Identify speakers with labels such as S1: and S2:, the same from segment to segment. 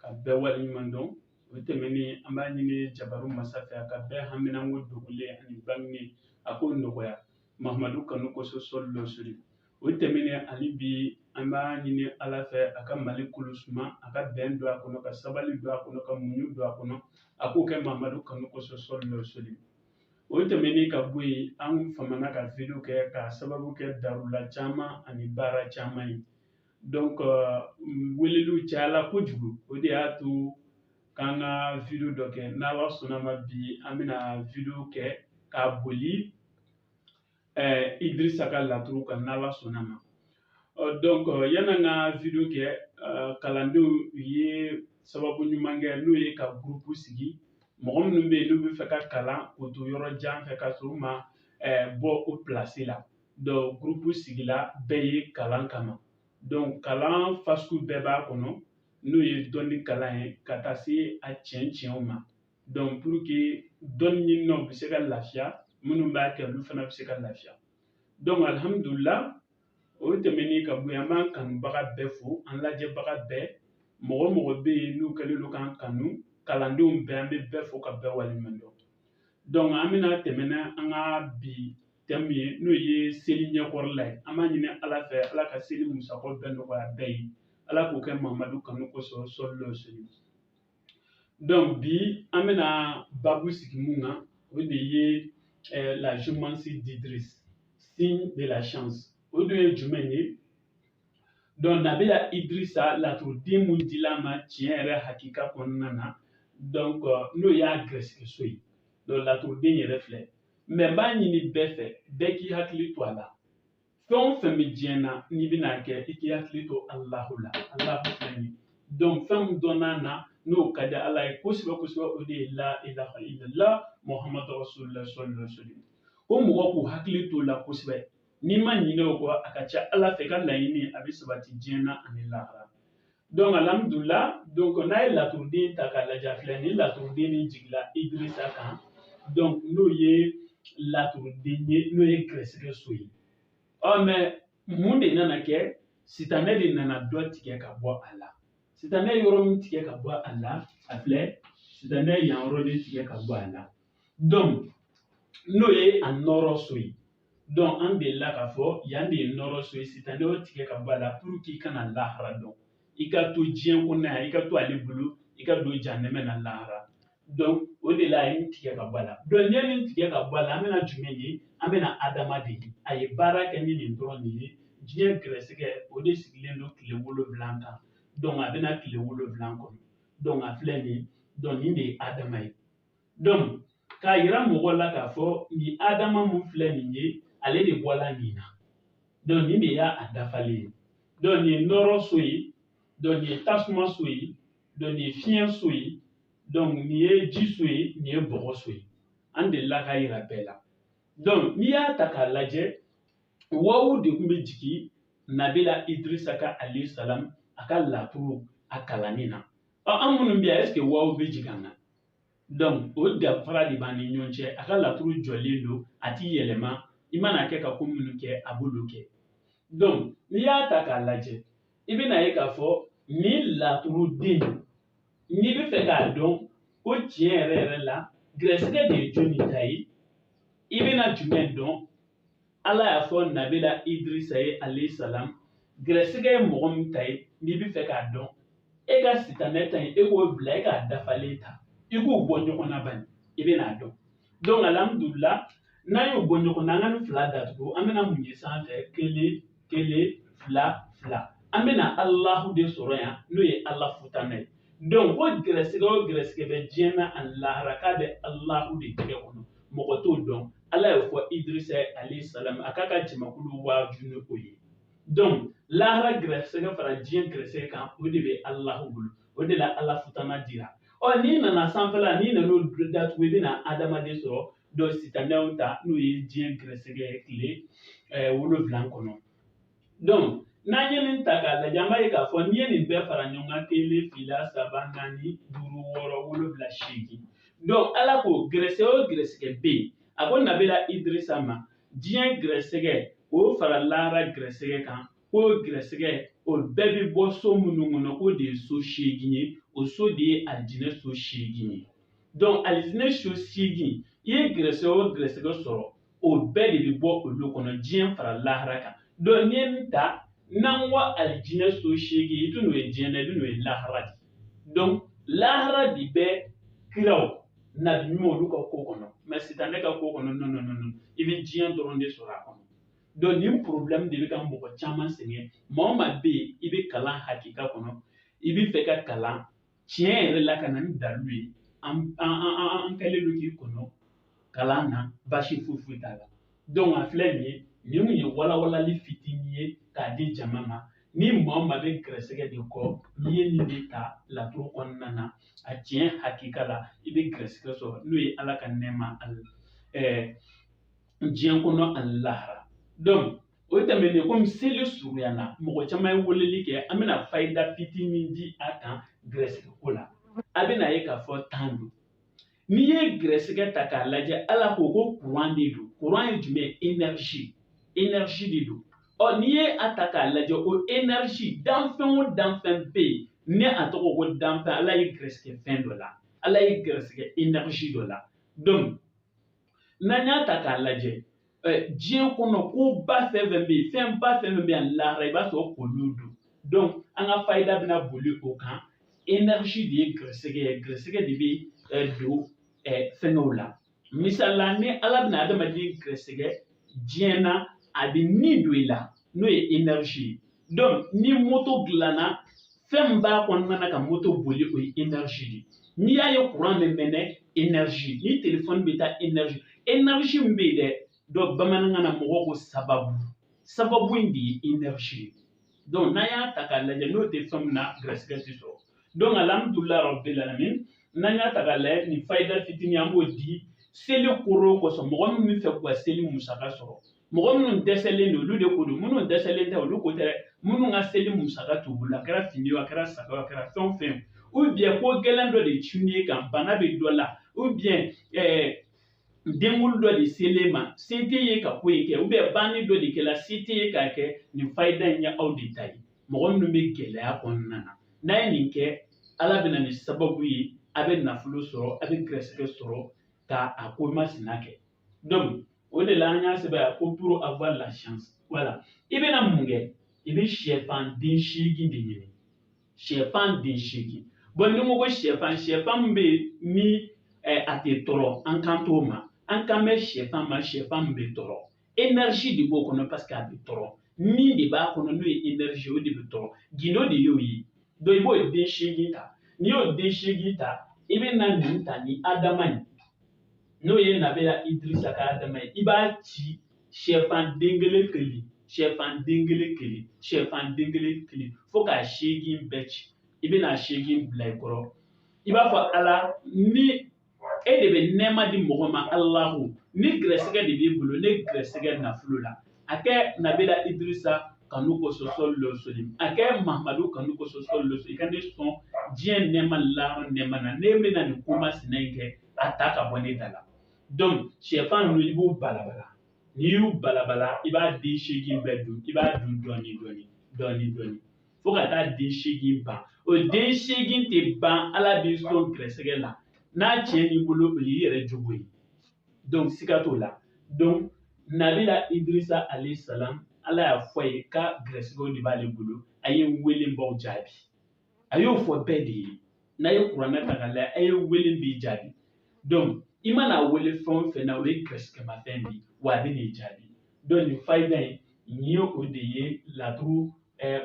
S1: ka bɛɛ waleɲuman dɔn o tɛmɛnen an b'a ɲini jabaru masa fɛ a ka bɛɛ haminanko dogolen ani bangenen a k'o nɔgɔya mahamadu kanu kosɔn sallallahu alaihi wasallam o tɛmɛnen hali bi an b'a ɲini ala fɛ a ka mali kolo suma a ka bɛn don a kɔnɔ ka sabali don a kɔnɔ ka muɲu don a kɔnɔ a k'o kɛ mahamadu kanu kosɔn sallallahu alaihi wasallam o tɛmɛnen ka bɔ yen an famana ka video kɛ k'a sababu kɛ darula caman ani baara caman ye donc euh, weleliw cayala kojugu o de y'a to k'an ka video dɔ kɛ n'ala sɔnna ma bi an bɛna video kɛ k'a boli eh, idrisa ka laturu kan n'ala sɔnna ma euh, donc euh, yan'an ka video kɛ kalandenw ye sababu ɲuman kɛ n'o ye ka gurupu sigi mɔgɔ minnu bɛ yen n'u bɛ fɛ ka kalan k'u to yɔrɔ jan fɛ ka sɔrɔ u ma bɔ o pilasi la donc gurupu sigila bɛɛ ye kalan kama donc kalan fasugu bɛɛ b'a kɔnɔ n'o ye dɔnni kalan ye ka taa se a tiɲɛ tiɲɛw ma donc pour que dɔnni ɲininaw bɛ se ka lafiya minnu b'a kɛ olu fana bɛ se ka lafiya donc alihamudulila o tɛmɛnen ka bɔ yen an b'an kanubaga bɛɛ fo an lajɛbaga bɛɛ mɔgɔ o mɔgɔ bɛ yen n'u kɛlen don k'an kanu kalandenw bɛɛ an bɛ bɛɛ fo ka bɛɛ waleɲuman dɔn donc an bɛna tɛmɛ n'an ka bi thème ye n'o ye seli ɲɛkɔrɔla ye an b'a ɲini ala fɛ ala ka seli musakaw bɛɛ nɔgɔya bɛɛ ye ala k'o kɛ mamadu kanu kosɔn sallallahu alaihi wasallam donc bi an bɛna babu sigi mun kan o de ye eh, la géomancie d'idris signe de la chance o dun ye jumɛn ye donc nabila idrisa laturuden mun dil'a ma tiɲɛ yɛrɛ hakika kɔnɔna na donc euh, n'o y'a gɛrɛsɛgɛ so ye donc laturuden yɛrɛ filɛ mais n b'a ɲini bɛɛ fɛ bɛɛ k'i hakili to a la fɛn o fɛn bɛ diɲɛ na n'i bɛn'a kɛ i k'i hakili to alahu la alahu filɛ nin donc fɛn min dɔnna na n'o ka di ala ye kosɛbɛ kosɛbɛ o de ye la ilaha illallah muhammadu rasulillah sallallahu alaihi wasallam ko mɔgɔ k'u hakili to o la kosɛbɛ n'i ma ɲinɛ o kɔ a ka ca ala fɛ i ka laɲini a bɛ sabati diɲɛ na ani lahara donc alihamudulila donc n'a ye laturuden ta k'a lajɛ filɛ nin laturuden min jigila idrisa kan donc n'o ye laturuden ye n'o ye gɛrɛsɛgɛ so ye ɔ mais mun de nana kɛ sitanɛ de nana dɔ tigɛ ka bɔ a la sitanɛ ye yɔrɔ min tigɛ ka bɔ a la a filɛ sitanɛ ye yan yɔrɔ de tigɛ ka bɔ a la donc n'o ye a nɔrɔ so ye donc an delila k'a fɔ yan de ye nɔrɔ so ye sitanɛ y'o tigɛ ka bɔ a la pour k'i kana lahara dɔn i ka to diɲɛ kɔnɔ yan i ka to ale bolo i ka don jahanama na lahara donc o de la a ye nin tigɛ ka bɔ a la donc n'i ye nin tigɛ ka bɔ a la an bɛna jumɛn ye an bɛna adama de ye a ye baara kɛ ni nin dɔrɔn de ye diɲɛ gɛrɛsɛgɛ o de sigilen don tile wolonwula kan donc a bɛna tile wolonwula kɔnɔ donc a filɛ nin ye donc nin de ye adama ye k'a yira mɔgɔw la k'a fɔ nin adama min filɛ nin ye ale de bɔla nin na donc nin de y'a a dafalen ye donc nin ye nɔrɔ so ye donc nin ye tasuma so ye donc nin ye fiɲɛ so ye donc nin ye ji so ye nin ye bɔgɔ so ye an delila k'a yira bɛɛ la donc n'i y'a ta k'a lajɛ wawu de tun bɛ jigin nabila idirisa ka alayhi salam a ka laturu a kalanni na ɔ an minnu bɛ yan est-ce que wawu bɛ jigin an na o danfara de b'an ni ɲɔgɔn cɛ a ka laturu jɔlen don a tɛ yɛlɛma i mana kɛ ka ko minnu kɛ a b'olu kɛ donc n'i y'a ta k'a lajɛ i bɛna ye k'a fɔ nin laturuden n'i bɛ fɛ k'a dɔn ko tiɲɛ yɛrɛ yɛrɛ la gɛrɛsɛgɛ de ye jɔnni ta ye i bɛna jumɛn dɔn ala y'a fɔ nabila idirisa ye alayhi salam gɛrɛsɛgɛ ye mɔgɔ min ta ye n'i bɛ fɛ k'a dɔn e ka sitanɛ ta ye e k'o bila e k'a dafalen ta i k'u bɔ ɲɔgɔn na bani i bɛna a dɔn donc alihamudulila n'an y'o bɔ ɲɔgɔn na an ka nin fila datugu an bɛna mun ye sanfɛ kelen kelen fila fila an bɛna alahu de sɔrɔ yan n'o ye ala futanɛ ye donc ko gɛrɛsɛgɛ o gɛrɛsɛgɛ bɛ diɲɛ na ani lahara k'a bɛ alahu de tɛgɛ kɔnɔ mɔgɔ t'o dɔn ala y'o fɔ idirisa alayhi salam a k'a ka jamakulu waaju ni o ye donc lahara gɛrɛsɛgɛ fara diɲɛ gɛrɛsɛgɛ kan o de bɛ alahu bolo o de la ala futana dira ɔ n'i nana sanfɛla n'i nan'o datugu i bɛna adama de sɔrɔ donc sitanɛw ta n'o ye diɲɛ gɛrɛsɛgɛ tile wolonwula kɔnɔ donc n'an ye nin ta k'a lajɛ an b'a ye k'a fɔ n'i ye nin bɛɛ fara ɲɔgɔn kan kelen fila saba naani duuru wɔɔrɔ wolonwula seegin donc ala ko gɛrɛsɛgɛ o gɛrɛsɛgɛ bɛ yen a ko nabila idirisa ma diɲɛ gɛrɛsɛgɛ o fara lahara gɛrɛsɛgɛ kan k'o gɛrɛsɛgɛ o bɛɛ bɛ bɔ so minnu kɔnɔ k'o de ye so seegin ye o so de ye alijinɛ so seegin ye donc alijinɛ so seegin i ye gɛrɛsɛgɛ o gɛrɛsɛgɛ sɔrɔ o bɛɛ de bɛ bɔ olu kɔnɔ diɲɛ fara lahara kan donc n'i ye nin ta n'an ko alijinɛ so seegin i tɛn'o ye diɲɛ na i bɛn'o ye lahara de donc lahara de bɛ kiraw nabi ɲuman olu ka ko kɔnɔ mais sitanɛ ka ko kɔnɔ non non non i bɛ diɲɛ dɔrɔn de sɔrɔ a kɔnɔ donc nin problème de bɛ ka mɔgɔ caman sɛgɛn maa o maa bɛ yen i bɛ kalan hakika kɔnɔ i bɛ fɛ ka kalan tiɲɛ yɛrɛ la ka na ni dalu ye an an an an kɛlen don k'i kɔnɔ kalan na baasi foyi foyi t'a la donc a filɛ nin ye nin kun ye walawalali fitinin ye k'a di jama ma ni maa o maa bɛ gɛrɛsɛgɛ de kɔ n'i ye nin de ta laturu kɔnɔna na a tiɲɛ hakika la i bɛ gɛrɛsɛgɛ sɔrɔ n'o ye ala ka nɛɛma ani ɛɛ diɲɛ kɔnɔ ani lahara donc o tɛmɛnen komi seli surunyana mɔgɔ caman ye weleli kɛ an bɛna fayida fitinin di a kan gɛrɛsɛgɛ ko la a bɛna ye k'a fɔ tan don n'i ye gɛrɛsɛgɛ ta k'a lajɛ ala ko ko kuran de don kuran ye jumɛn énergie énergie de don ɔ n'i ye a ta k'a lajɛ o énergie danfɛn o danfɛn bɛ yen ni a tɔgɔ ko danfɛn ala ye gɛrɛsɛgɛ fɛn dɔ la ala ye gɛrɛsɛgɛ énergie dɔ la donc n'an y'a ta k'a lajɛ diɲɛ kɔnɔ koba fɛn fɛn bɛ yen fɛnba fɛn fɛn bɛ yan lahara i b'a sɔrɔ k'olu don donc an ka fayida bɛna boli o kan énergie de ye gɛrɛsɛgɛ ye gɛrɛsɛgɛ de bɛ don fɛngɛw la misali la ni ala bɛna adamaden gɛrɛsɛgɛ diɲɛ na a bɛ ni don i la n'o ye énergie ye donc ni moto dilanna fɛn min b'a kɔnɔna na ka moto boli o ye énergie de ye n'i y'a ye courant bɛ mɛnɛ énergie ni telefɔni bɛ taa énergie énergie min bɛ yen dɛ donc bamanankan na mɔgɔw ko sababu sababu in de ye énergie ye donc n'an y'a ta k'a lajɛ n'o tɛ fɛn min na garisigɛ tɛ sɔrɔ donc alihamudulilayi rabbil alamin n'an y'a ta k'a lajɛ nin fayida fitinin an b'o di seli koro kosɔn mɔgɔ min bɛ fɛ k'u ka seli musaka sɔrɔ mɔgɔ minnu dɛsɛlen don olu de ko don minnu dɛsɛlen tɛ olu ko tɛ dɛ minnu ka seli musaka t'u bolo a kɛra fini ye a kɛra saga a kɛra fɛn o fɛn ou bien ko gɛlɛn dɔ de cunnen e kan bana bɛ dɔ la ou bien ɛɛ denkunli dɔ de selen ma se tɛ ye ka ko in kɛ ou bien banni dɔ de kɛra se tɛ ye k'a kɛ nin fayida in ye aw de ta ye mɔgɔ minnu bɛ gɛlɛya kɔnɔna na n'a ye nin kɛ ala bɛ na ni sababu ye a bɛ nafolo sɔrɔ a bɛ gɛrɛsɛgɛ sɔrɔ ka a ko masina kɛ donc o de la an y'a sɛbɛn ko pour avoir la chance voilà i bɛna mun kɛ i bɛ sɛfan den seegin de ɲini sɛfan den seegin bon ni ko ko sɛfan sɛfan min bɛ yen ni eh, a tɛ tɔɔrɔ an kan t'o ma an kan bɛ sɛfan ma sɛfan min bɛ tɔɔrɔ énergie de b'o kɔnɔ parce que a bɛ tɔɔrɔ ni de b'a kɔnɔ n'o ye énergie o de bɛ tɔɔrɔ gindo de y'o ye donc i b'o den seegin ta n'i y'o den seegin ta i bɛna nin ta ni adama ye n'o ye nabila idirisa ka dama ye i b'a ci sɛfan den kelen kelen sɛfan den kelen kelen sɛfan den kelen kelen fo k'a seegin bɛɛ ci i bɛna a seegin bila i kɔrɔ i b'a fɔ ala ni e de bɛ nɛɛma di mɔgɔ ma alahu ni gɛrɛsɛgɛ de b'i bolo ne gɛrɛsɛgɛ nafolo la a kɛ nabila idirisa kanu kosɔn sɔli lɔ sɔli a kɛ mahamadu kanu kosɔn sɔli lɔ sɔli i ka ne sɔn diɲɛ nɛɛma lahara nɛɛma na ne bɛna nin ko masina in kɛ a ta ka bɔ ne da la donc sɛfan ninnu i b'u balabala n'i y'u balabala i b'a den seegin bɛɛ dun i b'a dun dɔɔni dɔɔni dɔɔni dɔɔni fo ka taa den seegin ban o den seegin tɛ ban ala b'i sɔn gɛrɛsɛgɛ la n'a tiɲɛ n'i bolo o y'i yɛrɛ jogo ye donc siga t'o la donc nabila idirisa alayhi salam ala y'a fɔ a ye k'a gɛrɛsɛgɛw de b'ale bolo a ye n wele n b'aw jaabi a y'o fɔ bɛɛ de ye n'a ye kuranɛ ta k'a lajɛ a ye wele n b'i jaabi donc i mana a wele fɛn o fɛn na o ye gɛrɛsɛgɛmafɛn de ye wa a bɛn'i jaabi donc nin fayida in nin ye o de ye laturu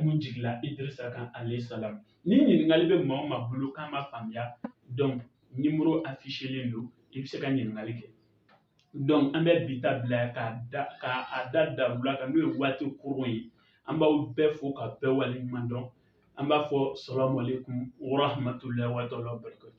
S1: mun jigila idirisa kan alayhi salam ni ɲininkali bɛ maa o maa bolo k'a ma faamuya donc nimoro afiselen don i bɛ se ka ɲininkali kɛ an bɛ bi ta bila ka da k'a da dabolo kan n'o ye waati kurun ye an b'aw bɛɛ fo ka bɛɛ waleɲuman dɔn an b'a fɔ salamu alaykum wa rahmatulahi wa taala wa barakatu